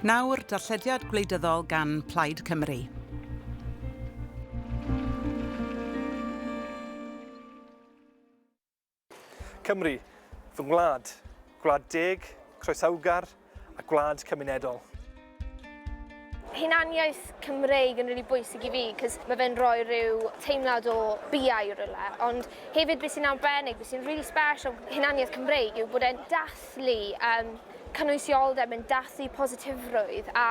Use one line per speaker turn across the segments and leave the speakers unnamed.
Nawr, darllediad gwleidyddol gan Plaid Cymru.
Cymru, fy ngwlad, gwlad deg, croesawgar a gwlad cymunedol.
hunaniaeth Cymreig yn really bwysig i fi, cos mae fe'n rhoi rhyw teimlad o biau rhywle, ond hefyd beth sy'n arbennig, beth sy'n really special o hunaniaeth Cymreig yw bod e'n dathlu um, cynwysioldeb, yn dathlu positifrwydd a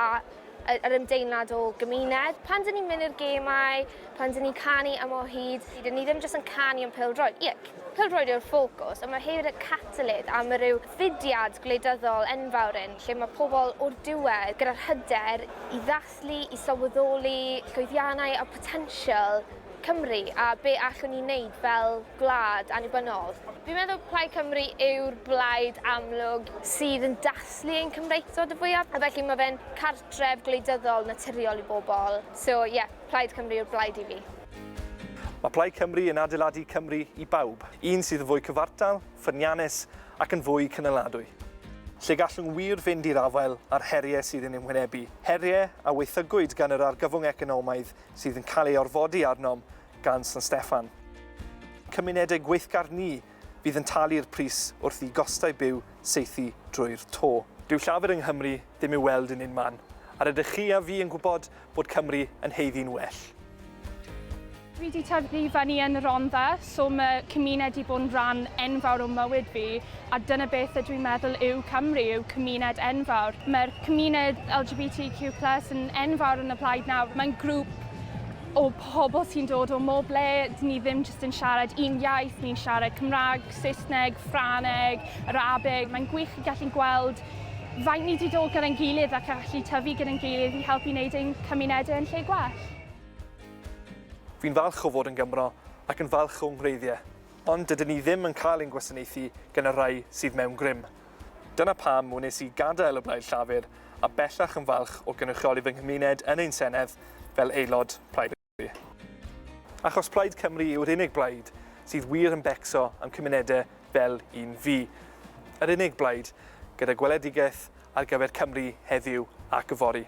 yr ymdeimlad o gymuned. Pan dyn ni'n mynd i'r gemau, pan dyn ni'n canu am o hyd, dyn ni ddim jyst yn canu am pêl-droed. Ie, pêl-droed yw'r ffocws, ond mae hefyd y catalydd am y rhyw fudiad gwleidyddol enfawr yn lle mae pobl o'r diwedd gyda'r hyder i ddathlu, i sylweddoli llwyddiannau a photensial Cymru a be allwn ni wneud fel gwlad annibynnol. Fi'n meddwl Plaid Cymru yw'r blaid amlwg sydd yn dathlu ein Cymreictod y fwyaf a felly mae fe'n cartref gwleidyddol naturiol i bobl. So ie, Plaid Cymru yw'r blaid i fi. Mae
Plaid Cymru yn adeiladu Cymru i bawb, un sydd yn fwy cyfartal, ffyniannus ac yn fwy cynaladwy, lle gallwn wir fynd i'r afael â'r heriau sydd yn ein hwynebu, heriau a waethygwyd gan yr argyfwng economaidd sydd yn cael ei orfodi arnom gan San Steffan. Cymunedau gweithgar ni fydd yn talu'r pris wrth i gostau byw saethu drwy'r to. Dyw llafur yng Nghymru ddim i'w weld yn unman, a rydych chi a fi yn gwybod fod Cymru yn haeddu'n well.
Fi 'di tyfu i fyny yn Rhondda, so ma' cymuned 'di bod yn rhan enfawr o mywyd fi, a dyna beth ydw i'n meddwl yw Cymru, yw cymuned enfawr. Mae'r cymuned LGBTQ plus yn enfawr yn y Plaid nawr. Mae'n grŵp o pobl sy'n dod o mob le, dyn ni ddim jyst yn siarad un iaith, ni'n siarad Cymraeg, Saesneg, Ffraneg, Arabeg. Mae'n gwych i gallu gweld Faint ni 'di dod gyda'n gilydd ac yn gallu tyfu gyda'n gilydd i helpu wneud ein cymunedau yn lle gwell.
Fi'n falch o fod yn Gymro ac yn falch o'ng ngwreiddiau, ond dydyn ni ddim yn cael ein gwasanaethu gan y rhai sydd mewn grym. Dyna pam wnes i gadael y Blaid Llafur a bellach yn falch o gynrychioli fy nghymuned yn ein Senedd fel aelod Plaid y Cymru. Achos Plaid Cymru yw'r unig blaid sydd wir yn becso am cymunedau fel un fi. Yr unig blaid gyda gweledigaeth ar gyfer Cymru heddiw ac yfory.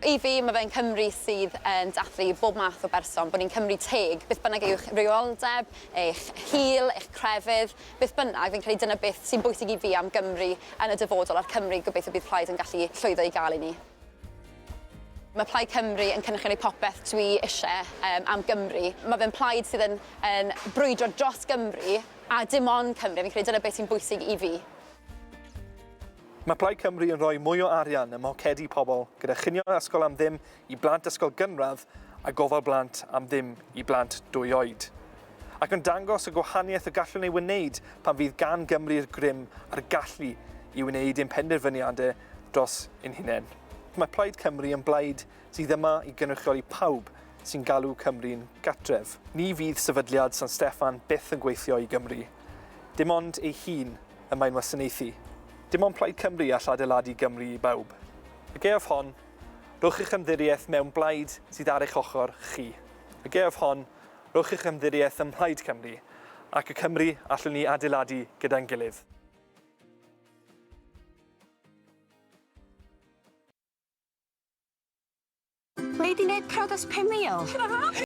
I fi, mae fe'n Cymru sydd yn dathlu bob math o berson, bod ni'n Cymru teg, beth bynnag yw'ch rywioldeb, eich hil, eich crefydd, beth bynnag, fi'n credu dyna beth sy'n bwysig i fi am Gymru yn y dyfodol a'r Cymru gobeithio bydd Plaid yn gallu llwyddo i gael i ni. Mae Plaid Cymru yn cynrychioli popeth dwi eisiau um, am Gymru. Mae fe'n plaid sydd yn, yn brwydro dros Gymru a dim ond Cymru. Fi'n credu dyna beth sy'n bwysig i fi.
Mae Plaid Cymru yn rhoi mwy o arian ym mhocedi pobl gyda chinio ysgol am ddim i blant ysgol gynradd a gofal blant am ddim i blant dwy oed. Ac yn dangos y gwahaniaeth y gallwn ei wneud pan fydd gan Gymru'r grym a'r gallu i wneud ein penderfyniadau dros ein hunain. Mae Plaid Cymru yn blaid sydd yma i gynrychioli pawb sy'n galw Cymru'n gartref. Ni fydd Sefydliad San Steffan byth yn gweithio i Gymru. Dim ond ei hun y mae'n wasanaethu. Dim ond Plaid Cymru all adeiladu Gymru i bawb. Y gaeaf hon, rhowch eich ymddirieaeth mewn blaid sydd ar eich ochr chi. Y gaeaf hon, Rhowch eich ymddirieaeth ym Mhlaid Cymru ac y Cymru allwn ni adeiladu gyda'n gilydd.
Wnei di neud priodas 5000?